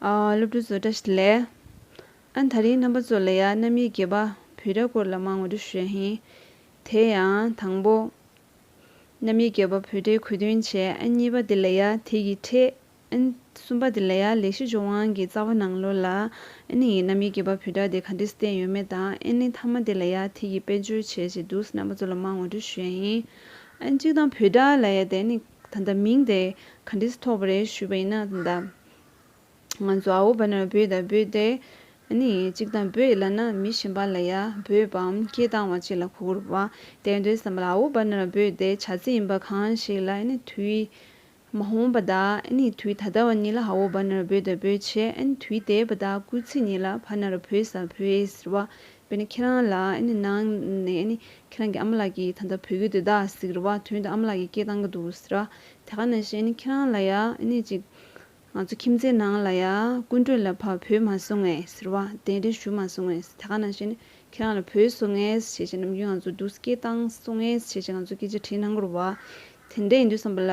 སློབ་ཕྲུག་ཚོ་བཀྲ་ཤིས་བདེ་ལེགས། ད་རིང་རྣམ་པ་ཚོ་ལ་ཡང་རྣམ་དབྱེ་བརྒྱད་པ་བུ་ར་སྐོར་ལ་མ་ངོ་སྤྲོད་ཞུས་ཧིན། དེ་ཡང་དང་པོ། རྣམ་དབྱེ་བརྒྱད་པ་བུ་རའི་གོ་དོན་བྱས། གཉིས་པ་དེ་ལ་ཡང་དེ་ཡི་ཕྲད། གསུམ་པ་དེ་ལ་ཡང་ལེགས་བཤད་ཇོ་བང་གི་རྩ་བ་ནང་ལོ་ལ། ཨེན་ཡིས་རྣམ་དབྱེ་བརྒྱད་པ་བུ་ར་དེ་ག་འདྲས་བསྟན་ཡོད་མེད་དང་ཨེན་ལེན་ཐ་མ་དེ་ལ་ཡང་དེ་ཡི་དཔེ་བརྗོད་བྱས་ཅེས་འདུག་རྣམ་པ་ཚོ་ལ་མ་ངོ་སྤྲོད་ཞུས་ཧིན། གཅིག་དང་བུ་ར་ལ་ཡང་དེ་ནི། ད་ལྟ་མིང་དེ་ག་འདྲས་ཐོགས་པ་རེད་ཞུས་པ་ཡིན་ན་ད་ལྟ་ང་ཚོ་ཨའོ་བ་ན་བོད་དང་བོད་དེ་ནི་གཅིག་དང་བོད་ཡིད་ལ་ན་མི་གཞན་པ་ལ་ཡ་བོད་པའམ་སྐད་གདངས་བ་གཅིག་ལ་གོ་བུར་བ་དེ་འདྲའི་བསམ་པ་ལ་ཨའོ་བ་ན་བོད་དེ་བྱ་ཚིག་ཡིན་པ་གང་ཞིག་ལ་དུས་མ་ཧོམ་པ་དག་དུས་ད་ལྟ་བ་གཉིས་ལ་ཨའོ་བ་ན་བོད་དང་བོད་བྱས་དུས་དེས་བ་དག་སྐུལ་ཚིག་གཉིས་ལ་བ་ན་བོད་ས་བོད་ཟེར་བ་བས་ནི་ཁྱེད་རང་ལ་གནང་ནས་ནི་ཁྱེད་རང་གི་ཨ་མ་ལགས་ཀྱིས་ད་ལྟ་བོད་ཡུལ་དུ་བདག་ཟེར་བ་དོན་དུ་ཨ་མ་ལགས་ཀྱི་སྐད་བཏང་གི་འདུག་ཟེར། དེ་ག་ནང་བཞིན་ཁྱེད་རང་ལ་ཡང་ནི་ཅིག། ང་ཚོ་ཁྱིམ་མཚེས་ནང་ལ་ཡང་ཀུན་གྲོལ་ལ་ཕ་བོས་མ་བཟོ་ངེས་ཟེར་བ་གདན་འདྲེན་ཞུ་མ་བཟོ་ངེས་དེ་ག་ནང་བཞིན་ཁྱེད་རང་ལ་བོས་བཟོ་ངེས་བྱས་བྱས་ནམ་རྒྱུན་ང་ཚོ་འདུག་སྐད་བཏང་བཟོ་ངེས་བྱས་བྱས་ང་ཚོ་སྐད་ཆ་དྲིས་གནང་དགོས་རུ་བ། དེ་འདྲ་ཡིན་དུས་བསམ་པ་ལ།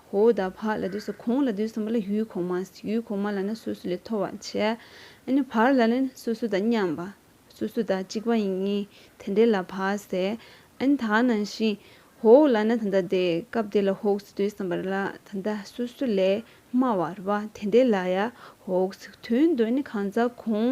ཧོ་ད་བྷ་ལ་དུས་སུ་གོང་ལ་དུས་སམ་བ་ལ་ཡུལ་གོང་མ་ཡུལ་གོང་མ་ལ་ནི་སོ་སོ་ལས་མཐོ་བར་བྱས། ནི་བར་ལ་ནི་སོ་སོ་དང་མཉམ་པ། སོ་སོ་དང་གཅིག་པ་ཡིན་ངེས་དེ་འདྲའི་ལ་བྷ་ཟེ། ནི་ད་ནང་བཞིན། ཧོ་ལ་ནི་ད་ལྟ་དེ་སྐབས་དེ་ལ་ཧོ་དུས་སམ་བར་ལ་ད་ལྟ་སོ་སོ་ལས་དམའ་བར་བ་དེ་འདྲའི་ལ་ཡ་ཧོ་དོན་དུ་ནི་གང་ཟག་གོང་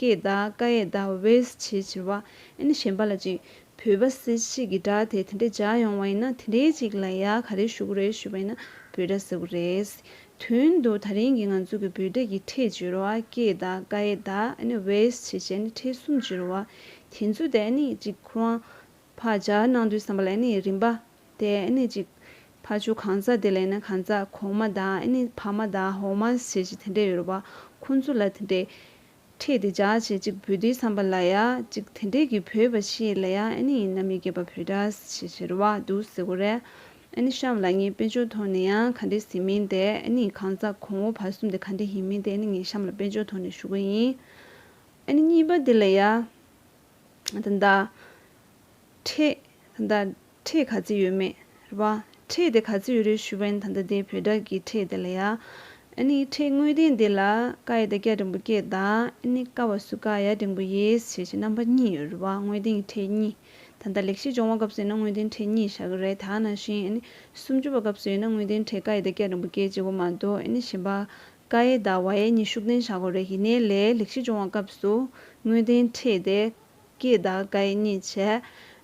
ཀའི་བརྡ་ཀ་ཡའི་བརྡ་བས་ཆེས་ཆེ་བ་ཨིན་གཞན་པ་ལ་ཅིག་བོད་པ་སེ་གཅིག་གི་སྒྲ་དེ་དེ་འདྲའི་འཇགས་ཡོང་བ་ཡིན་ན་དེ་འདྲའི་ཅིག་ལ་ཡ་ག་རེ་ཞུ་གི་རེད་ཞུས་པ་ཡིན་ན་བོད་སྒྲ་ཟེར་གི་རེད། དོན་དུ་ད་རིང་གི་ང་ཚོ་གི་བོད་སྒྲ་ཡིག་ཕྲད་བྱེད་རོགས་ཨ་ཀའི་བརྡ་ཀ་ཡའི་བརྡ་ཨིན་བས་ཆེས་ཆེ་ཨིན་ཕྲད་གསུམ་བྱེད་རོགས་ཨ། དེ་ཚོ་དེ་ཨིན་ཅིག་ཁུ་དབང་ཕག་འཇགས་གནང་དུས་བསམ་པ་ལ་ཨིན་རིམ་པ་དེ་ནི་ཅིག། ཕ་ཆོས་གང་ཟག་དེ་ལས་ནི་གང་ཟག་གོང་མ་དང་ནི་ཕ་མ་དང་འོག་མ་ཞེས་ཀྱི་དེ་འདྲས་ཡོད་པ་ཁོ་ཚོ་ལ་དེ་འདྲས། ཁྲེས་དེ་བྱ་ཞེས་ཅིག་བུ་དེའི་བསམ་པ་ལ་ཡ་ཅིག་དེ་འདྲས་ཀྱི་བུས་པ་ཤེས་ལ་ཡ་ནི་ཡིན་ན་མི་དགེ་བ་བུས་འདྲ་ཞེས་ཞེ་རུ་བ་འདུག་ཟེ་གོ་རེད། ནི་ཤམ་ལ་ངས་དཔེ་འཇོག་ཐོག་ནས་ཡང་ག་འདྲས་ཟིན་མིན་དེ་ནི་གང་ཟག་གོང་འོག་བར་གསུམ་དེ་ག་འདྲས་ཡིན་མིན་དེ་ནི་ངས་ཤམ་ལ་དཔེ་འཇོག་ཐོག་ནས་ཞུ་གི་ཡིན། ནི་གཉིས་པ་དེ་ལ་ཡ། དང། ཁྲེས། ད་ལྟ་ཁྲེས་ག་ཚོད་ཡོད་མེད། རེ་བ། ཁྲེས་དེ་ག་ཚོད་ཡོད་རེད་ཞུ་བན་ད་ལྟ་དེ་བོད་དག་གི་ཁྲེས་དེ་ལ་ཡ། ཨེ་ནི་ཁྲེས་དངོས་བདེན་དེ་ལ་ཀ་ཡེ་ད་སྐྱ་འབྲིང་པོ་སྐྱེས་གདའ་ཨེ་ནི་ཀ་བ་སུ་ཀ་ཡ་འབྲིང་པོ་ཡེས་བྱས་ཀྱི་རྣམ་པ་གཉིས་ཡོད་རེ་བ་དངོས་བདེན་གྱི་ཁྲེས་གཉིས། ད་ལྟ་ལེགས་བཤད་སྦྱོང་བ་སྐབས་སུ་ཡིན་ན་དངོས་བདེན་ཁྲེས་གཉིས་བཞག་གི་རེད་ད་ནང་བཞིན་ཨེ་ནི་སུམ་ཅུ་པ་སྐབས་སུ་ཡིན་ན་དངོས་བདེན་ཁྲེས་ཀ་ཡེ་ད་སྐྱ་འབྲིང་པོ་སྐྱེས་བྱེད་པོ་མ་གཏོགས་ཨེ་ནི་གཞན་པ་ཀ་ཡེ་ད་བ་ཡེ་གཉིས་ཤུགས་བསྟན་བཞག་གོ་རེ་ཡིན་ནའི་ལས་ལེགས་བཤད་སྦྱོང་བ་སྐབས་སུ་དངོས་བདེན་ཁྲེས་དེ་ཀྱེ་ད་ག་ཨེ་རྙེད་བྱས།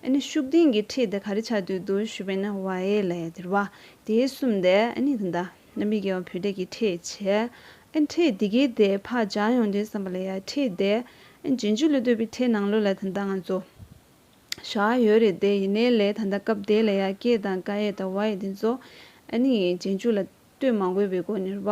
ཨཱ་ནི་ཤུགས་ལྡན་གྱི་ཁྲིད་དེ་ག་རེ་བྱ་འདོད་འདུག་ཞུས་པས་ན་བ་ཨེ་ལས་དེར་བ་དེའི་གསུམ་དེ་ཨཱ་ནི་དེ་འདྲ་རྣམ་པའི་རྒྱལ་བ་བུ་འདྲེ་ཀྱི་ཁྲིད་བྱས། ཨཱ་ནི་ཁྲིད་དེ་གའི་དེ་བག་ཆགས་ཡོང་དོན་བསམ་པ་ལ་ཡ་ཁྲིད་དེ་ཨཱ་ནི་རྗེས་འཇུག་ལས་འདོད་པའི་ཁྲིད་ནང་ལོ་ལ་དེ་འདྲ་ང་ཚོ་བཞག་ཡོད་རེད་དེ་ཡིན་ནའི་ལས་ད་ལྟ་སྐབས་དེ་ལ་ཡ་ཀྱེ་ད་ག་ཨེ་ད་བ་ཨེ་དེ་ཚོ་ཨཱ་ནི་རྗེས་འཇུག་ལ། ལྟོས་མ་དགོས་པའི་སྒོ་ནས་རུས་པ་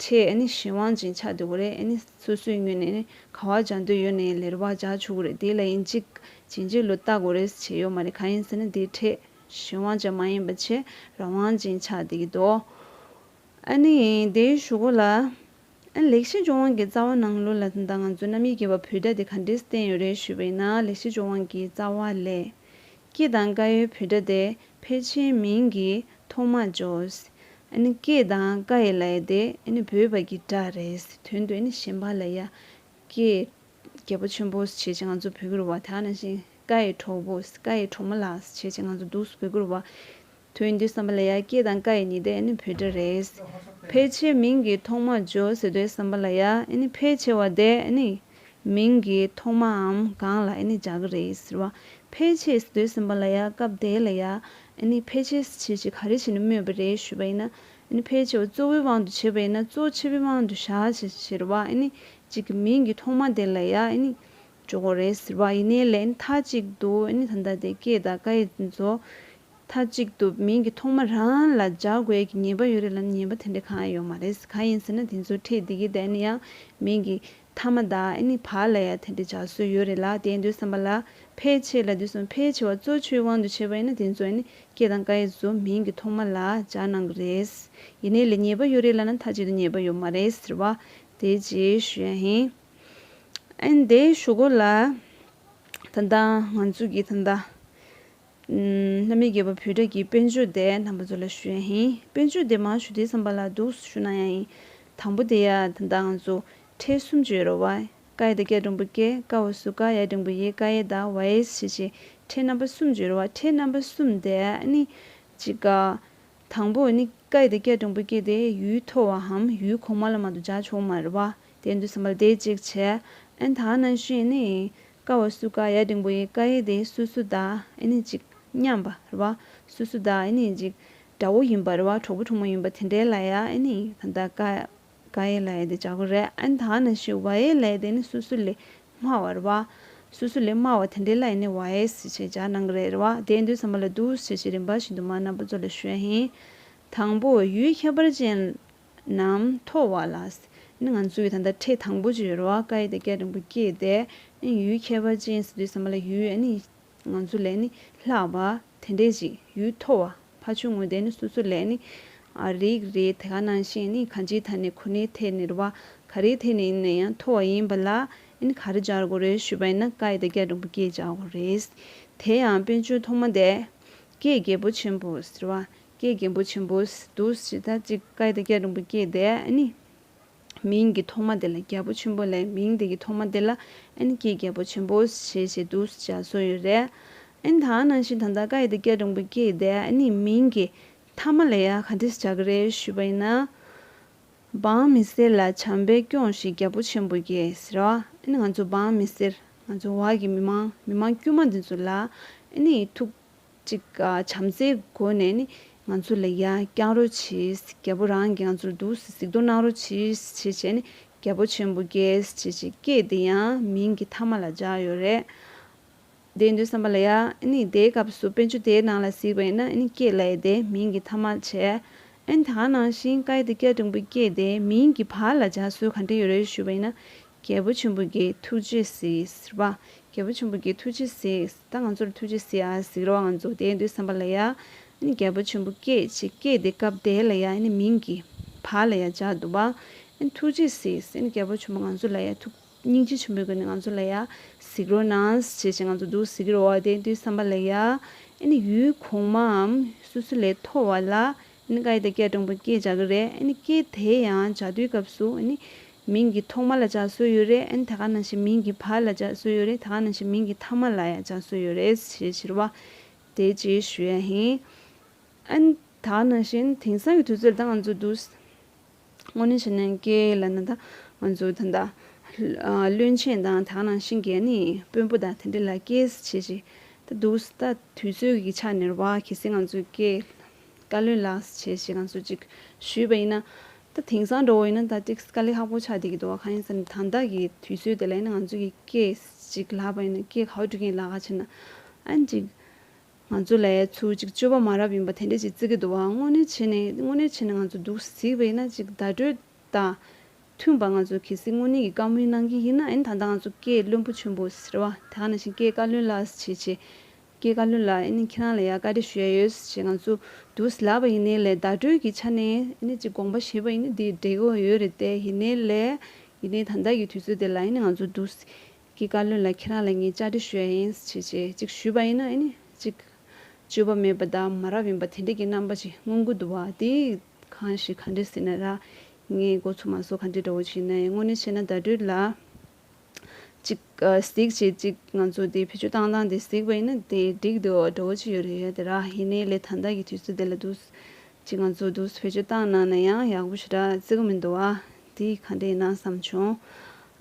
ཁྲེས་ཨེ་ནི་གཞན་དབང་ཅིང་ཆ་འདོད་པོ་རེད་ཨེ་ནི་སོ་སོའི་སྙུན་ནས་ནི་ག་བ་བྱ་འདོད་ཡོད་ནི་ལས་རུས་པ་བྱ་ཆོག་གི་རེད་དེ་ལ་ཡིན་གཅིག་བྱིན་གྱིས་ལོ་བཏགས་དགོས་རེད་བྱས་ཡོད་མ་རེད་ག་ཡིན་ཟེར་ན་དེ་ཁྲེས་གཞན་དབང་ཅན་མ་ཡིན་པ་ཆེ་ར་དབང་ཅིང་ཆ་འདོད་ཀྱི་འདུག་ཨེ་ནི་ཡིན་དེ་ཞུ་གོ་ལ། ཨེ་ལེགས་ཤེས་ལྗོངས་དབང་གི་རྩ་བ་ནང་ལོ་ལ་ད་ང་ཚོའི་རྣམ་དབྱེ་བརྒྱད་པ་བུ་ད་དེ་ག་འདྲས་བསྟན་ཡོད་རེད་ཞུས་པ་ཡིན་ན་ལེགས་ཤེས་ལྗོངས་དབང་གི་རྩ་བ་ལས། སྐྱིད་དང་དཀའ་ཡི་བུ་སྒྲ་དེ་ཕལ་ཆེན་མིང་གི་ཐོག་མ་འཇོག། སྐྱིད་དང་དཀའ་ཡི་ལ་ཡ་དེ་བོད་པ་གི་སྒྲ་རེད་དོན་དུ་གཞན་པ་ལ་ཡ། སྐྱིད། རྒྱལ་པོ་ཆེན་པོ་བྱེད་ཅེས་ང་ཚོ་བོད་སྐུར་བ་དག་ན་བཞིན་དཀའ་ཡི་གྲོགས་པོ་དཀའ་ཡི་གྲོགས་མོ་ལགས་བྱེད་ཅེས་ང་ཚོ་སྡུག་བོད་སྐུར་བ། དོན་འདི་བསམ་པ་ལ་ཡ་སྐྱེས་དང་ཀ་ཡི་ཉི་ཟླ་ཨེ་ནི་བོད་སྒྲ་རེད། ཕལ་ཆེར་མིང་གི་ཐོག་མར་ཇོ་ཟེར་དུས་བསམ་པ་ལ་ཡ་ཨེ་ནི་ཕལ་ཆེ་བ་དེ་ཨེ་ནི། མིང་གི་ཐོག་མའམ་གང་ལ་ཨེ་ནི་འཇག་གི་རེད་ཟེར་བ། ཕལ་ཆེ་ཟེར་དུས་བསམ་པ་ལ་ཡ་སྐབས་དེ་ལ་ཡ་ཨེ་ནི་ཕལ་ཆེ་ཟེར་བྱེད་ཅིག་ག་རེ་བྱེད་ནས་སྨོས་པ་རེད་ཞུས་པ་ཡིན་ན་ཨེ་ནི་ཕལ་ཆེ་བ་གཙོ་བོའི་དབང་དུ་བྱས་པ་ཡིན་ན་གཙོ་ཆེ་བོའི་དབང་དུ་བཞག་བྱེད་ཟེར་བ་ཨེ་ནི་གཅིག་གི་མིང་གི་ཐོག་མ་དེ་ལ་ཡ་ཨེ་ནི། ཇོ་གོ་རེད་ཟེར་བ་ཡིན་ནའི་ལན་མཐའ་གཅིག་ཏུ་ཨེ་ནི་ད་ལྟ་དེ་སྐྱེས་དང་ཀ་ཡི་མཛོ། མཐའ་གཅིག་ཏུ་མིང་གི་ཐོག་མ་རང་ལ་སྦྱར་དགོས་ཀྱི་ཉེས་པ་ཡོད་རེད་ལབ་ཉེས་པ་དེ་འདྲ་གང་ཡང་ཡོད་མ་རེད་གང་ཡིན་ཟེར་ན་དེ་ཚོའི་ཁྲིད་འདི་གི་འདས་ན་ཡང་མིང་གི་མཐའ་མ་དང་ཨནི་བར་ལ་ཡང་དེ་འདྲ་སྦྱར་སྲོལ་ཡོད་རེད་ལ་དེ་འདོད་བསམ་པ་ལ་ཕལ་ཆེར་ལ་དེ་གསུམ་ཕལ་ཆེ་བ་གཙོ་ཆོའི་དབང་དུ་བྱས་པ་ཡིན་ན་དེ་ཚོ་ཨནི་ཀྱེ་དང་ཀ་ཡེ་ཚོ་མིང་གི་ཐོག་མ་ལ་སྦྱར་གནང་གི་རེད། ཡིན་ནའི་ལ་ཉེས་པ་ཡོད་རེད་ལ་ན་མཐའ་གཅིག་ཏུ་ཉེས་པ་ཡོད་མ་རེད་ཟེར་བ་དེ་རྗེས་ཞུ་ཡ་ཡིན། ཨནི་དེ་ཞུ་གོ་ལ། ད་ལྟ་ང་ཚོ་གི་ད་ལྟ་རྣམ་དབྱེ་བརྒྱད་པོ་བུ་སྒྲ་ཀྱི་དཔེར་བརྗོད་དེ་དང་པོ་ཚོ་ལ་ཞུ་ཡ་ཡིན། དཔེར་བརྗོད་དེ་མ་ཞུ་དེའི་བསམ་པ་ལ་འདུག་སུ་ཞུ་ན་ཡང་ཡིན། དང་པོ་དེ་ཡ་ད་ལྟ་ང་ཚོ་ཁྲེལ་གསུམ་བཅུ་ཡོད་རོ་བ་ཨེ་ཀ་ཡེ་ད་སྐྱ་སྒྲོམ་བུ་ཀེ་ཀ་བ་སུ་ཀ་ཡ་སྒྲིང་བུ་ཡེ་ཀ་ཡེ་ད་བ་ཨེས་ཞེས་བྱའི་ཁྲེལ་རྣམ་པ་གསུམ་བརྗོད་རོ་བ་ཁྲེལ་རྣམ་པ་གསུམ་དེ་ནི། གཅིག་ག། དང་པོ་ནི་ཀ་ཡེ་ད་སྐྱ་སྒྲོམ་བུ་ཀེ་དེ་ཡུལ་མཐོ་བའམ་ཡུལ་གོང་མ་ལ་མ་དུ་འཇགས་ཆོག་མ་རེད་བ་དེ་འདུག་བསམ་པ་ལ་དེ་གཅིག་བྱས་ཨེ་ད་ནང་བཞིན་ནི། ཀ་བ་སུ་ཀ་ཡ་འབྲིང་པོ་ཡི་ཀ་ཡེ་དེ་སུ་སུ་དག་ཨེ་ནི་ཅིག་སྙམ་པ་རེ་བ། སུ་སུ་དག་ཨེ་ནི་ཅིག་དགྲ་བོ་ཡིན་པ་རེ་བ་གྲོགས་པོ་གྲོགས་མོ་ཡིན་པ་དེ་འདྲའི་ལ་ཡ་ཨེ་ནི་ད་ལྟ་ཀ་ཀ་ཡེ་ལ་ཡེ་དེ་བྱ་གོ་རེ་ཨེ་ད་ནི་ཤི་བ་ཡེ་ལ་ཡེ་དེ་ནི་སུ་སུ་ལས་སྨྲ་བ་རེ་བ། སུ་སུ་ལས་སྨྲ་བ་དེ་འདྲའི་ལ་ཡེ་ནི་བ་ཡེ་སི་ཞེས་བྱ་གནང་གི་རེད་རེ་བ་དེའི་མདོའི་ས་མ་ལ་དུ་ཞེས་བྱའི་རིམ་པ་བཞིན་དུ་མ་རྣམས་པ་གཙོ་ལ་ཞོན་ཧེ། དང་པོ་ཡུལ་ཁྱད་པར་ཅན་ནམ་མཐོ་བ་ལ། ནི་ང་ཚོའི་ད་ལྟ་ཁྲི་དང་པོ་བཅུའི་རོ་ཨ་ཀ་ཡི་དེ་སྐད་རིང་པོ་སྐྱེས་ཏེ། ནི་ཡུལ་ཁྱད་པར་ཅན་ཟེར་དུས་ཟེར་མ་ལ་ཡུལ་ཨ་ནི་ང་ཚོ་ལས་ནི་ལྷག་པ་དེ་འདྲས་ཅིག་ཡུལ་མཐོ་བ་ཕ་ཆུང་ངུ་དེ་ནི་སོ་སོ་ལས་ནི་ཨ་རིག་རེད་དེ་ག་ནང་བཞིན་ནི་ག་ཅིའི་ཐད་ནས་ཁོ་ནའི་ཐད་ནས་རེད་བ་ག་རེའི་ཐད་ནས་ཡིན་ན་ཡང་མཐོ་བ་ཡིན་པ་ལ་ནི་ག་རེ་སྦྱར་དགོས་རེད་ཞུས་པ་ཡིན་ན་ཀ་ཡི་དེ་སྐད་རིང་པོ་སྐྱེས་སྦྱར་དགོས་རེད། དེ་ཡང་དཔེ་བརྗོད་ཐོག་མ་དེ། སྐད་རྒྱལ་པོ་ཆེན་པོ་ཟེར་བ་ཀྱེ་རྒན་པོ་ཆེན་པོ་དུ་ཞེ་ད་ཅིག་བཀའི་དེ་སྐད་རིང་པོ་སྐྱེས་ཏེ་ནི། མིང་གི་ཐོག་མ་དེ་ལ་རྒྱལ་པོ་ཆེན་པོ་ལས་མིང་དེ་ཀྱི་ཐོག་མ་དེ་ལ་ནི་ཀྱེ་རྒྱལ་པོ་ཆེན་པོ་ཞེས་བྱའི་དུ་ཞེས་བྱ་སོ་ཡོད་རེ། ནི་ད་ནང་བཞིན་ད་ལྟ་བཀའི་དེ་སྐད་རིང་པོ་སྐྱེས་ཏེ་ནི་མིང་གི་ཐ་མ་ལ་ཡང་ག་འདྲས་བྱ་གི་རེ་ཞུས་པ་ཡིན་ན། འབངས་མི་སེར་ལ་བྱམས་པས་སྐྱོངས་ཤིག་རྒྱལ་པོ་ཆེན་པོ་ཀྱེས་ཟེར་རོ། ནི་ང་ཚོ་འབངས་མི་སེར་ང་ཚོ་བར་གྱི་མི་མང་མི་མང་དཀྱུས་མ་འདི་ཚོ་ལ་ནི་ཐུགས། གཅིག་བྱམས་བརྩེའི་སྒོ་ནས་ནི་ང་ཚོ་ལ་ཡ་བསྐྱང་རོ་བྱིས། རྒྱལ་པོ་རང་གིས་ང་ཚོར་སྡུག་གཟིགས་གཟིགས་དོ་གནང་རོ་བྱིས་བྱེད་བྱས་ནི་རྒྱལ་པོ་ཆེན་པོ་རྒྱལ་བྱེད་བྱེད་སྐད་དེ་ཡང་མིང་གི་ཐ་མ་ལ་སྦྱར་ཡོད་རེད། དེའི་དོན་བསམ་པ་ལ་ཡ་ནི་དེའི་སྐབས་སུ་དཔོན་ཆུ་དེའི་ནང་ལ་གཟིགས་པ་ཡིན་ན་ནི་སྐད་ལ་ཡ་དེ་མིང་གི་ཐ་མ་བྱས། ཨན་ད་ནང་བཞིན་ཀ་ཡ་དེ་སྐྱ་འབྲིང་པོའི་སྐད་དེ་མིང་གི་བར་ལ་སྦྱར་སྲོལ་ག་འདྲ་ཡོད་རེད་ཞུས་པ་ཡིན་ན་རྒྱལ་པོ་ཆེན་པོ་འགའི་ཐུགས་རྗེས་གཟིགས། རེ་བ། རྒྱལ་པོ་ཆེན་པོ་འགའི་ཐུགས་རྗེས་གཟིགས། ད་ང་ཚོར་ཐུགས་རྗེས་གཟིགས་ཨ་གཟིགས་རོགས་ང་ཚོ་བསྡད་འདུག་བསམ་པ་ལ་ཡ། ཨ་ནི་རྒྱལ་པོ་ཆེན་པོ་སྐད་ཅིག་སྐད་དེ་སྐབས་དེ་ལ་ཡ་ཨ་ནི་མིང་གི། བ་ལ་ཡ་འཇགས་འདུག་བ། ཨ་ནི་ཐུགས་རྗེས་གཟིགས། ཨ་ནི་རྒྱལ་པོ་ཆེན་པོ་ང་ཚོ་ལ་ཡ་ཐུགས། སྙིང་རྗེ་ཆེན་པོའི་སྒོ་ནས་ང་ཚོ་ལ་ཡ། གཟིགས་རོགས་གནང། བྱས་བྱས་ང་ཚོ་འདུག་གཟིགས་རོགས་བསྡད་འདུག་བསམ་པ་ལ་ཡ། ཨ་ནི་ཡུལ་གོང་མའམ། སོ་སོ་ལས་མཐོ་བ་ལ། ནི་ཀྭའི་དེ་སྐད་དྲང་པོ་སྐད་བྱ་གི་རེད་ནི་སྐད་དེ་ཡང་བྱ་དུས་སྐབས་སུ་ནི་མིང་གི་ཐོག་མ་ལ་བྱ་སྲོལ་ཡོད་རེད་ནི་དེ་ག་ནང་བཞིན་མིང་གི་བར་ལ་བྱ་སྲོལ་ཡོད་རེད་དེ་ག་ནང་བཞིན་མིང་གི་མཐའ་མ་ལ་ཡང་བྱ་སྲོལ་ཡོད་རེད་ཞེས་བྱིར་བ་དེ་ཅིའི་ཞུ་ཡ་ཧིན། ཨ་ནི་དག་ནང་བཞིན་དེང་སང་གི་དུས་ཚོད་ལ་ད་ང་ཚོ་འདུག། སྔོན་ནི་ཕྱི་ནང་སྐྱེ་ཡི་ལ་ནི་དང། མཛོད་དང། བློན་ཆེན་དང་དག་ནང་བཞིན་རྒྱལ་ནི་དཔོན་པོ་དང་དེ་འདྲ་ལ་སྐྱེ་བྱེད་ཅིག་ད་འདུག་ད་དུས་ཚོད་ཀྱི་ཆ་ནས་བ་གེ་སེ་ང་ཚོས་སྐྱེ་བཀའ་བློན་ལ་བྱེད་བྱེད་གང་སུ་ཅིག་ཞུས་པ་ཡིན་ན། ད་དེང་སང་འགྲོ་བ་ཡིན་ན་ད་ཏིག་དཀའ་ལས་ཧ་པོ་ཆགས་བསྡད་ཀྱི་འདུག་གང་ཡིན་ཟེར་ན་ད་ལྟ་གི་དུས་ཚོད་དེ་ལ་ཡིན་ན་ང་ཚོས་ཀྱི་སྐྱེ་བྱེད་ཅིག་ལབ་པ་ཡིན་ན་སྐྱེ་ག་བ་སྒྲུབ་མཁན་ལགས་ཁ་བྱེད་ན་ཨ་འགྲིག། ང་ཚོ་ལས་ཚུལ་གཅིག་སྤྱོད་པ་མ་རབས་ཡིན་པ་དེ་འདྲས་ཅིག་བརྩི་གི་འདུག་ཨང། དངོས་གནས་བྱས་ནས་དངོས་གནས་བྱས་ནས་ང་ཚོ་འདུག་གཟིགས་པ་ཡིན་ན་ཅིག་བརྡ་སྤྲོད་དང། མཐུན་པར་ང་ཚོ་གལ་སྲིད་དངོས་གནས་ཀྱི་བཀའ་མོལ་གནང་གི་ཡིན་ན་ཨེན་ད་ལྟ་ང་ཚོ་སྐད་བློན་པོ་ཆེན་པོ་ཟེར་བ་དེ་ག་ནང་བཞིན་སྐད་བཀའ་བློན་ལགས་ཞེས་བྱས། སྐད་བཀའ་བློན་ལགས་ཨེ་ནི་ཁྱེད་རང་ལ་ཡང་བཀའ་དྲི་ཞུ་ཡ་ཡོད་ཞེས་ང་ཚོ་འདུག་གཟིགས་ལབ་པ་ཡིན་ནའི་ལས་བརྡ་སྤྲོད་ཀྱི་ཆ་ནས་ཨེ་ནི་ཅིག་དགོངས་པ་བཞེས་པ་ཡིན་ནའི་དེའི་འབྲས་བུ་ཡོད་རེད་དེ་ཡིན་ནའི་ལས་ཡིན་ནའི་ད་ལྟ་ཀྱི་དུས་ཚོད་དེ་ལ་ཨེ་ནི་ང་ཚོ་འདུག་གཟིགས་གི་བཀའ་བློན་ལ་ཁྱེད་རང་ལ་ངས་བཅའ་སྡོད་ཞུ་ཡ་ཡིན་ཞེས་བྱས་གཅིག་ཞུས་པ་ཡིན་ན་ཨེ་ནི་གཅིག། བཅོས་པ་མེད་པ་དག་མ་རབས་ཡིན་པ་དེ་འདྲས་ཀྱི་རྣམ་པ་ཅིག་མངོན་དགོས་འདུག་བ་དེས་གང་ཞིག་ག་འདྲས་ཟེར་ན་ར། ངས་མགོ་ཚོ་མ་ཟོ་ག་འདྲས་འདྲ་བོ་ཞིག་ཡིན་ན་ཡང་དངོས་གནས་བྱས་ན་བརྡ་སྤྲོད་ལ། གཅིག། གཟིགས་བྱེད་གཅིག་ང་ཚོ་དེ་བེད་སྤྱོད་བཏང་བཏང་དེ་གཟིགས་པ་ཡིན་ན་དེ་འགྲིག་འདུག་འདྲ་བོ་ཅིག་ཡོད་རེད་ཡ་དེ་ར་ཡིན་ནའི་ལས་དང་དག་གི་དུས་ཚོད་དེ་ལ་འདུག། གཅིག་ང་ཚོ་འདུག་བེད་སྤྱོད་བཏང་གནང་ན་ཡང་ཡག་པོ་ཞེ་དྲག་བརྩི་གི་མི་འདུག་བ་དེས་ག་འདྲས་ཡིན་ན་བསམ་བྱུང།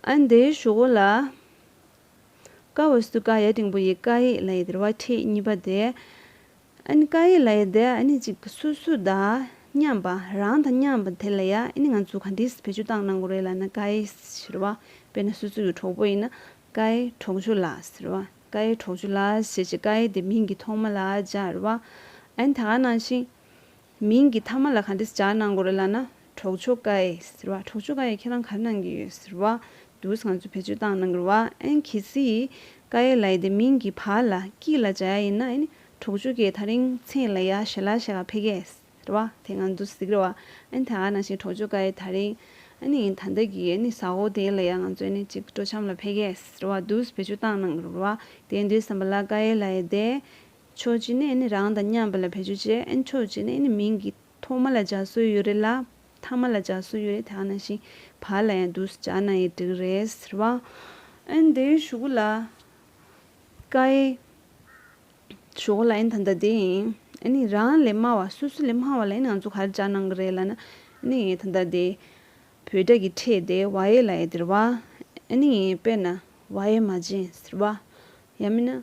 ཨ་འདི་ཞོག་བོ་ལ། ཀ་བ་སུ་ཀ་ཡ་དྲིང་པོ་ཡི་ཀ་ཡིག་ལ་ཡི་དེར་བ་ཁྲིད་གཉིས་པ་དེ། ཨ་ནི་ཀ་ཡིག་ལ་ཡི་དེ་ཨ་ནི་ཅིག་སུ་སུ་དང་མཉམ་པ་རང་དང་མཉམ་པ་དེ་ལ་ཡ་ཨི་ནི་ང་ཚོ་ག་འདིས་བེད་སྤྱོད་གཏང་གནང་གོ་རེད་ལ་ན་ཀ་ཡི་ཟེར་བ་དཔེར་ན་སུ་སུ་ཡི་གྲོགས་པོ་ཡིན་ན་ཀ་ཡི་གྲོགས་ཆུ་ལ་ཟེར་བ་ཀ་ཡི་གྲོགས་ཆུ་ལ་ཞེས་བྱས་ཀ་ཡི་དེ་མིང་གི་ཐོག་མ་ལ་སྦྱར་བ་ཨ་ནི་ད་ག་ནང་བཞིན། མིང་གི་མཐའ་མ་ལ་ག་འདྲི་སྦྱར་གནང་དགོས་རེད་ལབ་ན་གྲོགས་མཆོག་དགའ་ཡེ་ཟེར་བ་གྲོགས་མཆོག་དགའ་ཡེ་ཁྱེད་རང་གར་གནང་གི་ཡོད་ཟེར་བ་འདུག་ང་ཚོས་བེད་སྤྱོད་བཏང་གནང་གི་རེད་ཨན་གལ་སྲིད་དགའ་ཡེ་ལ་ཡི་དེ་མིང་གི་བར་ལ་སྐྱིད་ལ་སྦྱར་ཡ་ཡིན་ན་ཨན་གྲོགས་མཆོག་གིས་ད་རིང་ཚེ་ལ་ཡ་ཞེ་ལ་ཞེ་ག་ཕེ་གེ་ཟེར་བ་དེ་ང་ཚོ་གཟིགས་རེད་ཨན་དེ་ག་ནང་བཞིན་གྲོགས་མཆོག་དགའ་ཡེ་ད་རིང་ཨན་ཨན་ད་ལྟ་གི་ཨན་ཟ་ཧོ་དེ་ལ་ཡ་ང་ཚོ་ཨན་ཅིག་སྤྲོ་འཆམ་ལ་ཕེ་གེ་ཟེར་བ་འདུག་བེད་སྤྱོད་བཏང་གནང་གི་རེད་དེ་འདྲི་བསམ་པ་ལ་དགའ་ཡེ་ལ་ཡི་དེ་ཆོས་སྤྱི་ནས་ནི་རང་དང་མཉམ་པ་ལ་བེད་སྤྱོད་བྱེད་ཨེ་ཆོས་སྤྱི་ནས་ནི་མིང་གི་ཐོག་མ་ལ་སྦྱར་སྲོལ་ཡོད་རེད་ལ་མཐའ་མ་ལ་སྦྱར་སྲོལ་ཡོད་རེད་དེ་ཨ་ན་ཤིང་བར་ལ་ཡང་དུས་སུ་སྦྱར་ན་ཡི་འགྲིག་རེད་ཟེར་བ་ཨན་དེ་ཞུ་གུ་ལ་ཀ་ཨེ་ཞུ་གུ་ལ་ཨན་ད་འདི་ཡིན་ཨེ་ནི་རང་ལས་དམའ་བ་སོ་སོ་ལས་དམའ་བ་ལ་ཨེ་ནི་ང་ཚོ་ག་རེ་སྦྱར་གནང་གི་རེད་ལ་ན་ཨེ་ནི་ཡེ་ད་འདི་བོད་སྒྲ་གི་ཁྲེས་དེ་བ་ཡེ་ལ་ཡེ་དེར་བ་ཨེ་ནི་ཡེ་དཔེར་ན་བ་ཡེ་མ་བྱིན་ཟེར་བ་ཡ་མི་ན།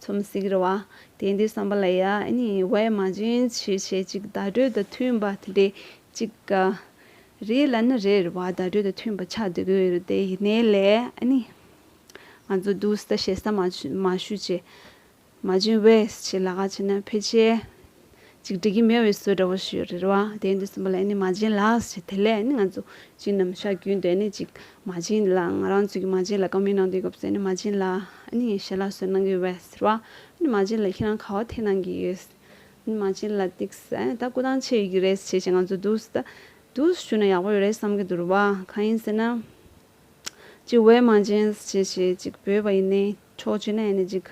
ཚོམས་གཟིགས་རེ་བ། དེ་འདི་བསམ་པ་ལ་ཡ་གཉིས་བས་མ་འབྱིན་ཕྱིར་བྱེད་གཅིག་བརྡ་སྤྲོད་དང་མཐུན་པ་དེ་འདྲས་གཅིག་ག། རེད་ལ་ནི་རེད་རེ་བ་བརྡ་སྤྲོད་དང་མཐུན་པ་ཆགས་འདུག་གི་རེད་དེ་ཡིན་ནའི་ལས་གཉིས། ང་ཚོ་འདུག་ཟེར་ད་བྱེད་ས་མ་ཞུ་བྱེད། མ་འབྱིན་བས་ཕྱིར་ལ་ག་བྱེད་ན་ཕལ་ཆེར་ཅིག་འགྲིག་གི་མེད་བའི་སྲོལ་འདྲ་བོ་ཞིག་རེད་བ། དེའི་འདུན་སྲིན་པོ་ལ་ནི་མ་བྱིན་ལགས་ཞེས་དེ་ལས་ནི་ང་ཚོ་བྱིན་ནམ་ཤ་རྒྱུས་འདོད་ནི་ཅིག་མ་བྱིན་ལ་ང་རང་ཚོས་ཀྱི་མ་བྱིན་ལ་གང་མི་གནང་དུས་སྐབས་སུ་ནི་མ་བྱིན་ལ་ནི་ངས་ཞལ་ལག་སོས་གནང་གི་བས་ཟེར་བ། ནི་མ་བྱིན་ལ་ཁྱེད་རང་ག་བ་ཐེ་གནང་གི་ཡོད། ནི་མ་བྱིན་ལ་ཏིག་སེ་ད་སྐུ་ཐང་ཆད་ཡོད་ཀྱི་རེད་ཟེར་བྱས་ང་ཚོ་འདུག་ཟེར་ད། འདུག་ཟེར་ཞུས་ན་ཡག་པོ་ཡོད་རེད་བསམ་གྱི་འདུག་རེད་བ། གང་ཡིན་ཟེར་ན། ཅིག་བས་མ་བྱིན་ཟེར་བྱས་ཅིག་བོས་བ་ཡིན་ནའི། ཕྱོགས་བཅུ་ན་ཡང་ནི་ཅིག།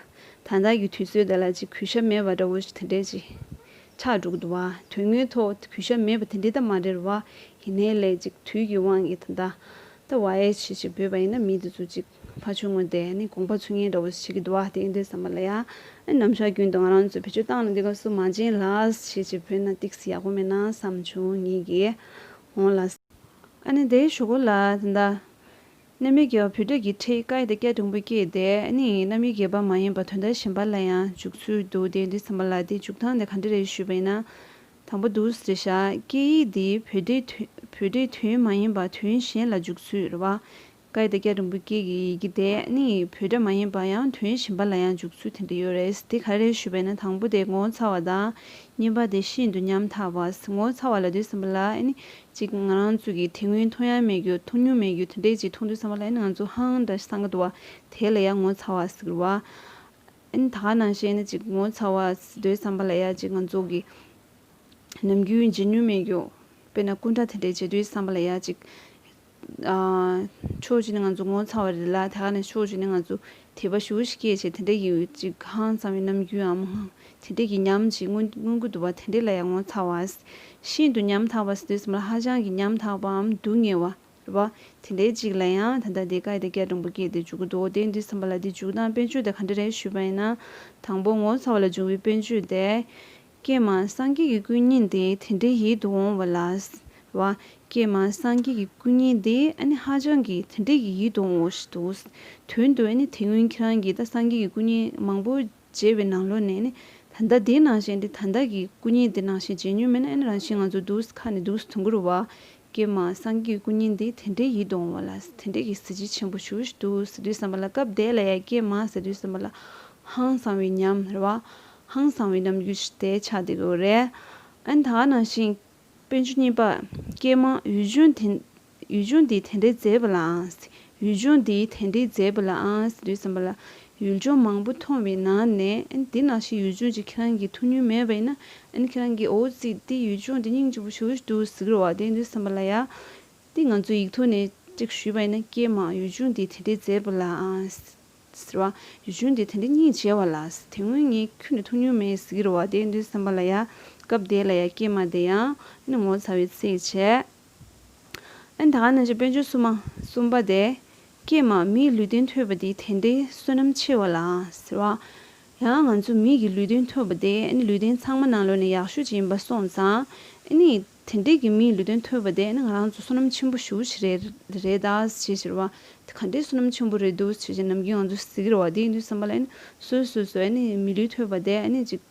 ད་ལྟར་གྱི་དུས་ཚོད་འདི་ལ་ཅིག་གུས་ཞབས་མེད་པ་འདྲ་བོ་ཞིག་དེ་འདྲས་ཅིག། ཕྱག་དྲུག་བསྡུ་བ། དོན་དངོས་ཐོག་གུས་ཞབས་མེད་པ་དེ་འདྲས་དང་མ་འབྲེལ་བ་ཡིན་ནའི་ལས་ཅིག་དུས་ཀྱི་དབང་གིས་ད་ལྟ། ད་བ་ཨེ་ཆི་ཞེས་འབོད་པ་ཡིན་ན་མི་འདི་ཚོ་ཅིག་ཕ་ཆོས་ངོ་དེ་ནི་དགོངས་པ་ཚུལ་ངན་འདྲ་བོ་ཞིག་བྱེད་ཀྱི་འདུག་ཨ་དེ་ཡིན་དུས་བསམ་པ་ལ་ཡང། ནམ་ཞག་རྒྱུན་དུ་ང་རང་ཚོས་བེད་སྤྱོད་བཏང་ནས་འདི་ག་སུ་མ་བྱིན་ལགས་ཞེས་ཅིག་བོས་ན་ཏིག་སི་ཡག་པོ་མེད་ན་བསམ་བྱུང་ངེད་ཀྱིས་འོང་ལ། ཨ་ནི་དེའི་ཞོ་གོ་ལ་དེ་འདྲ། རྣམ་དབྱེ་བརྒྱད་པ་བུ་སྟོད་ཀྱི་ཁྲི་ཀ་ཡི་ཏེ་ཀ་དུམ་བུ་སྐྱེས་ཏེ་ནི་རྣམ་དབྱེ་བརྒྱད་པ་མ་ཡིན་པ་དོན་དག་གཞན་པ་ལ་ཡང་འཇུག་ཚུལ་འདུག་སྟེ་འདི་ཚང་མ་ལ་དེ་འཇུག་ཐང་ནི་ག་འདྲ་རེད་ཞུས་པས་ན། དང་པོ་དུས་རེ་བཞག་ཀྱི་ཡིག་འདི་བུ་སྟོད་དུས་མ་ཡིན་པ་དུས་གཞན་ལ་འཇུག་ཚུལ་རེ་བ། ཀ་ཡི་ཏེ་ཀ་དུམ་བུ་སྐྱེས་ཀྱི་ཡི་གེ་དེ་ནི་བུ་སྟོད་མ་ཡིན་པ་ཡང་དུས་གཞན་པ་ལ་ཡང་འཇུག་ཚུལ་དེ་འདྲ་ཡོད་རེད་དེ་ག་རེད་ཞུས་པས་ན་དང་པོ་དེ་ངོ་ཚ་བ་དང་གཉིས་པ་དེ་ཤིན་ཏུ་ཉམ་ཐག་པ་ངོ་ཚ་བ་ལ་དུས་ཚང་མ་ལ་ནི་ཅིག་ང་རང་ཚོས་ཀྱི་དེ་སྔོན་མཐོང་ཡང་མེད་རྒྱུ་མཐོང་མྱོང་མེད་རྒྱུ་དེ་འདྲས་ཅིག་མཐོང་དུས་བསམ་པ་ལ་ཨེན་ང་ཚོ་ཧང་འདྲ་སངས་ག་འདུག་བ་དེ་ལ་ཡང་ངོ་ཚ་བ་ཟིག་རུ་བ། ཨེན་ད་ག་ནང་བཞིན་ཨེན་ཅིག་ངོ་ཚ་བ་ཟིག་འདོད་བསམ་པ་ལ་ཡ་ཅིག་ང་ཚོ་གི་ནམ་རྒྱུན་བརྗེད་མྱོང་མེད་རྒྱུ་དཔེར་ན་སྐུ་འདྲ་དེ་འདྲས་བྱེད་དུས་བསམ་པ་ལ་ཡ་ཅིག། ཕྱོགས་གཅིག་ནས་ང་ཚོ་ངོ་ཚ་བ་རེད་ལ་ད་ག་ནས་ཕྱོགས་གཅིག་ནས་ང་ཚོ་དེ་བ་ཞུ་ཞིག་སྐད་ཅིག་དེ་འདྲ་ཡིན་འོད་ཅིག་གང་ཙམ་ཡང་ནམ་རྒྱུན་འམ་ངང་དེ་འདྲ་གི་ཉམས་ཅིག་མངོན་མངོན་གུད་དུ་བ་དེ་འདྲ་ལ་ཡང་ངོ་ཚ་བ། ཤིན་ཏུ་ཉམ་ཐག་པ་ཟེར་དུས་སམ་ལ་ཧ་ཅང་གི་ཉམ་ཐག་པའམ་སྡུག་བསྔལ་བ། བ། དེ་འདྲའི་ཅིག་ལ་ཡང་ད་ལྟ་དེ་ཀ་ཡི་དེ་ཀའི་འབྲོང་བུ་སྐྱེས་ཏེ་འཇུག་གི་འདུག་འོ་དེ་འདི་བསམ་པ་ལ་དེ་འཇུག་སྟངས་དཔེར་བརྗོད་དེ་ག་འདྲ་རེད་ཞུས་པ་ཡིན་ན། དང་པོ་ངོ་ཚ་བ་ལ་འབྱུང་བའི་དཔེར་བརྗོད་དེ། ཀྱེ་མ་སངས་རྒྱས་ཀྱི་སྐུ་ཉིད་འདི་དེ་འདྲའི་ཡིད་དུ་འོང་བ་ལགས། བ། ཀྱེ་མ་སངས་རྒྱས་ཀྱི་སྐུ་ཉིད་འདི་ཨ་ནི་ཧ་ཅང་གི་དེ་འདྲའི་གི་ཡིད་དུ་འོང་བ་ཞིག་འདུག། དོན་དུ་ཨ་ནི་དེ་སྔོན་ཁྱེད་རང་གིས་ད་སངས་རྒྱས་ཀྱི་སྐུ་ཉིད་མང་པོ་མཇལ་བའི་ནང་ལོགས་ནས་ནི་ད་ད་དེ་ནང་བཞིན་དེ་ད་ད་གི་སྐུ་ཉིད་དེ་ནང་བཞིན་མཇལ་མྱོང་མེད་ན་ཨ་ནི་རང་བཞིན་ང་ཚོ་འདུག་ས་ཁ་ནས་འདུག་ས་དུང་གུར་བ། ཀྱེ་མ་སངས་རྒྱས་ཀྱི་སྐུ་ཉིད་འདི་དེ་འདྲའི་ཡིད་དུ་འོང་བ་ལགས་དེ་འདྲའི་གི་གཟི་བརྗིད་ཆེན་པོ་ཞུ་ཞིག་འདུག་ཟེར་དུས་བསམ་པ་ལ་སྐབས་དེ་ལ་ཡ་ཀྱེ་མ་ཟེར་དུས་བསམ་པ་ལ་ཧང་སང་བའི་ཉམས། ར་བ། ཧང་སང་བའི་རྣམ་འགྱུར་དེ་ཆགས་འདུག་གི་རེད། ཨན་ད་ནང་བཞིན། དཔོན་ཆུང་གཉིས་པ། སྐྱེས་མ། ཡུལ་ལྗོངས་དེ། ཡུལ་ལྗོངས་འདི་དེ་འདྲའི་མཛེས་པ་ལའང། ཡུལ་ལྗོངས་འདི་དེ་འདྲའི་མཛེས་པ་ལའང། འདུག་བསམ་པ་ལ། ཡུལ་ལྗོངས་མང་པོ་མཐོང་བའི་ནང་ནས། ཨན་འདི་ནང་བཞིན་ཡུལ་ལྗོངས་ཀྱི་ཁྱེད་རང་གི་ཐུགས་ཉུལ་མེད་པ་ཡིན་ན། ཨན་ཁྱེད་རང་གིས་འོ་ཙིས་འདི་ཡུལ་ལྗོངས་འདི་སྙིང་རྗེ་པོ་ཞུ་འདུག་ཟིག་རོ་བ་དེ་འདུག་བསམ་པ་ལ་ཡ། འདི་ང་ཚོས་ཡིག་ཐོག་ནས་གཅིག་ཞུས་པ་ཡིན་ན་སྐྱེས་མ། ཡུལ་ལྗོངས་འདི་དེ་འདྲའི་མཛེས་པ་ལའང། ཟེར་བ། གཞུང་འདི་དེ་འདི་གཉིས་འཇལ་བ་ལགས། དེ་སྔོན་ངས་ཁྱོད་ནི་ཐུགས་སྙུན་མེད་ཟེར་གྱི་རོ་བ་དེ་འདུན་བསམ་པ་ལ་ཡ། སྐབས་དེ་ལ་ཡ་སྐྱེས་མ་དེ་ཡང། སྣུན་ངོ་ཚ་བའི་ཚིག་བྱས། ཨན་ད་ག་ནང་བཞིན་དཔལ་འབྱོར་བསུ་མ། གསུམ་པ་དེ། སྐྱེས་མ་མིའི་ལུས་རྟེན་ཐོས་པ་འདི་དེ་འདི་བསོད་ནམས་ཆེ་བ་ལགས། ཟེར་བ། ཡང་ང་ཚོ་མིག་གི་ལུས་རྟེན་ཐོས་པ་དེ་ཨ་ནི་ལུས་རྟེན་ཚང་མ་ནང་ལོས་ནས་ཡག་ཤོས་ཅིག་ཡིན་པ་སོང་ཙང། ཨ་ནི། དེ་འདྲས་ཀྱི་མིའི་ལུས་སྟོན་ཐོས་པ་དེས་ན་ང་རང་ཚོ་བསོད་ནམས་ཆེན་པོ་ཞུ་བྱེད་རེད་རེད་ད་ཞེས་ཟེར་བ་དེ་ག་འདྲའི་བསོད་ནམས་ཆེན་པོ་རེད་འདུག་ཞེས་ནམ་རྒྱུན་ང་ཚོ་གཟིགས་རེད་བ་དེའི་དུས་བསམ་པ་ལ་སོས་སོས་སོས་མི་ལུས་ཐོས་པ་དེ་ནི་ཅིག་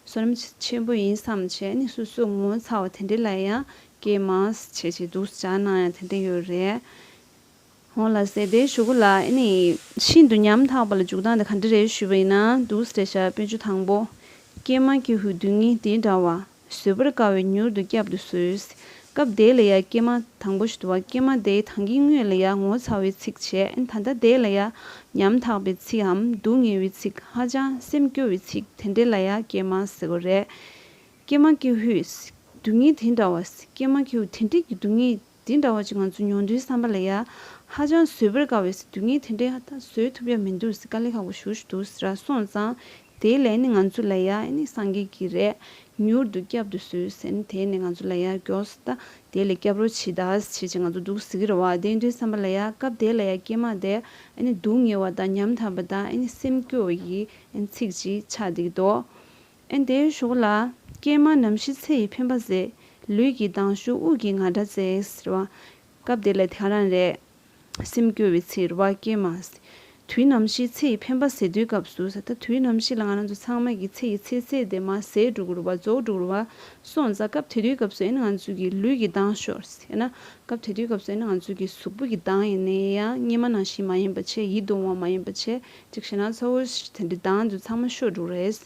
བསོད་ནམས་ཆེན་པོ་ཡིན་བསམ་ཞེས་ནི་སོས་སོས་ངོ་ཚ་བ་དེ་འདྲས་ལ་ཡང་སྐྱེས་མ་ཞེས་ཀྱི་འདུག་བྱ་ནང་ཡང་དེ་འདྲས་ཡོད་རེད། ཧོན་ལ་ཟེར་ཏེ་ཞུ་གུ་ལ་ཨེ་ནི་ཤིན་ཏུ་ཉམ་ཐག་པ་ལ་འཇུག་སྟངས་དེ་ག་འདྲ་རེད་ཞུས་པ་ཡིན་ན་འདུག་སེ་རེད་ཤ་སྤུན་ཆུ་དང་པོ། སྐྱེས་མ་ཁྱི་ཧུད་བདུན་གཉིས་དེ་འདྲ་བ། བཟོད་པར་དཀའ་བའི་མྱུར་དུ་བསྐྱབ་ཏུ་གསོལ། སྐབས་དེ་ལ་ཡ་སྐྱེས་མ་དང་པོ་ཞུ་དུ་བ་སྐྱེས་མ་དེ་ཐང་གི་དངོས་ལ་ཡ་ངོ་ཚ་བའི་ཚིག་བྱས་ད་ལྟ་དེ་ལ་ཡ་ཉམ་ཐག་པའི་ཚིག་འམ་སྡུག་བསྔལ་བའི་ཚིག་ཧ་ཅང་སེམས་སྐྱོ་བའི་ཚིག་དེ་འདྲེ་ལ་ཡ་སྐྱེས་མ་ཟེར་གོ་རེད། སྐྱེས་མ་ཁྱི་ཧུད་བདུན་གཉིས་དེ་འདྲ་བ། སྐྱེས་མ་ཁྱི་ཧུད་དེ་འདྲེ་ཀྱི་སྡུག་བསྔལ། འདི་འདྲ་བ་ཅིག་ང་ཚོས་མྱོང་དུས་བསམ་པ་ལ་ཡ། ཧ་ཅང་བཟོད་པར་དཀའ་བའི་སྲིད་དུས་ངས་དེ་འདྲའི་ཧ་ད་བཟོད་ཐུབ་ཡ་མི་འདུག་སྲིད་དཀའ་ལས་ཁག་པོ་ཞུ་ཞུ་འདུག་སྲིད་ར་སོང་ཙང་དེའི་ལས་ནི་ང་ཚོ་ལ་ཡ་ཨེ་ནི་སངས་རྒྱས་ཀྱི་རས་མྱུར་དུ་བསྐྱབ་དུ་གསོལ་ཟེར་ནི་དེས་ནི་ང་ཚོ་ལ་ཡ་མགྱོགས་སྲིད་ད་དེའི་ལས་བསྐྱབ་རོགས་བྱེད་ད་བྱེད་བྱེད་ང་ཚོ་འདུག་སྲིད་ཀྱི་ར་བ་དེ་འདྲའི་བསམ་པ་ལ་ཡ་སྐབས་དེ་ལ་ཡ་སྐྱེས་མ་དེ་ཨེ་ནི་སྡུག་བསྔལ་བ་ད་ཉམས་ཐབས་པ་ད་ཨེ་ནི་སེམས་སྐྱོ་ཡི་ཨེ་ནི་ཚིག་ཅིག་ཆགས་འདི་གདོད། ཨན་དེའི་གཞུག་ལ། ཀྱེ་མ་ནམ་ཞིག་ཚེ་ཡི་འཕེན་པ་ཟད། ལུས་ཀྱི་སྡང་ཞུགས་དབུགས་ཀྱི་ང་སྒྲ་བརྩེགས། ཟེར་བ། སྐབས་དེ་ལ་དེང་རང་རེད། སེམས་སྐྱོ་བའི་ཚིག་རེད། བ་ཀྱེ་མ། དུས་ནམ་ཞིག་ཚེ་ཡི་འཕེན་པ་ཟད་དུས་སྐབས་སུ། ད་དུས་ནམ་ཞིག་ལ་ང་རང་ཚོ་ཚང་མ་གིས་ཚེ་ཡི་ཚེ་ཚད་དེ་མ་ཟད་འགྲོ་རུ་བ་རྫོགས་འགྲོ་རུ་བ་སོང་ཙང་སྐབས་དེ་དུས་སྐབས་སུ་ཨན་ང་ཚོས་ཀྱི་ལུས་ཀྱི་སྡང་ཞོགས། ཡང་ན། སྐབས་དེ་དུས་སྐབས་སུ་ཨན་ང་ཚོས་ཀྱི་གཟུགས་པོ་གྱི་སྡང་ཡིན་ནའི་ཡང་སྙེ་མ་ནང་བཞིན་མ་ཡིན་པ་ཆེ་ཡིད་གདུང་བ་མ་ཡིན་པ་ཆེ་གཅིག་བྱས་ན་ཚ་བོ་དེ་འདྲའི་སྡང་དུ་ཚང་མ་ཤོར་འགྲོ་རེད།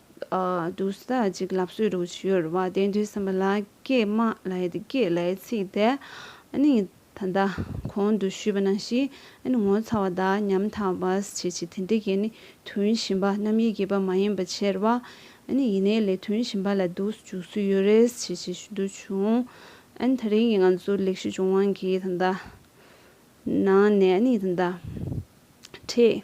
བདུད་རྩི་གཅིག་ལ་བསྲོས་དྲུག་བྱུར་བ་བདེ་འདུལ་སེམས་དཔའ་ལ་ཀྱེ་མ་ལ་ཡི་གེ་ལས་ཚིག་དེ་ད་ལྟ་གོང་དུ་ཞུས་པ་ན་ཞིག་ངོ་ཚ་བ་དག་ཉམ་ཐག་པ་བྱེད་ཅིག་དེ་འདི་ཀྱི་དོན་བཞིན་པ་རྣམ་དབྱེ་བརྒྱད་པ་མ་ཡིན་པ་ཕྱེར་བ་ཡེ་ནས་ལས་དོན་བཞིན་པ་ལ་འདུག་བཅུག་སུ་ཡོད་རེས་བྱེད་ཅིག་ཞུ་འདོད་བྱུང། ད་རིང་གི་ང་ཚོ་ལེགས་བཤད་ལྗོངས་དབང་གི་ད་ལྟ་ནང་ནས་ད་ལྟ་ཁྲིད།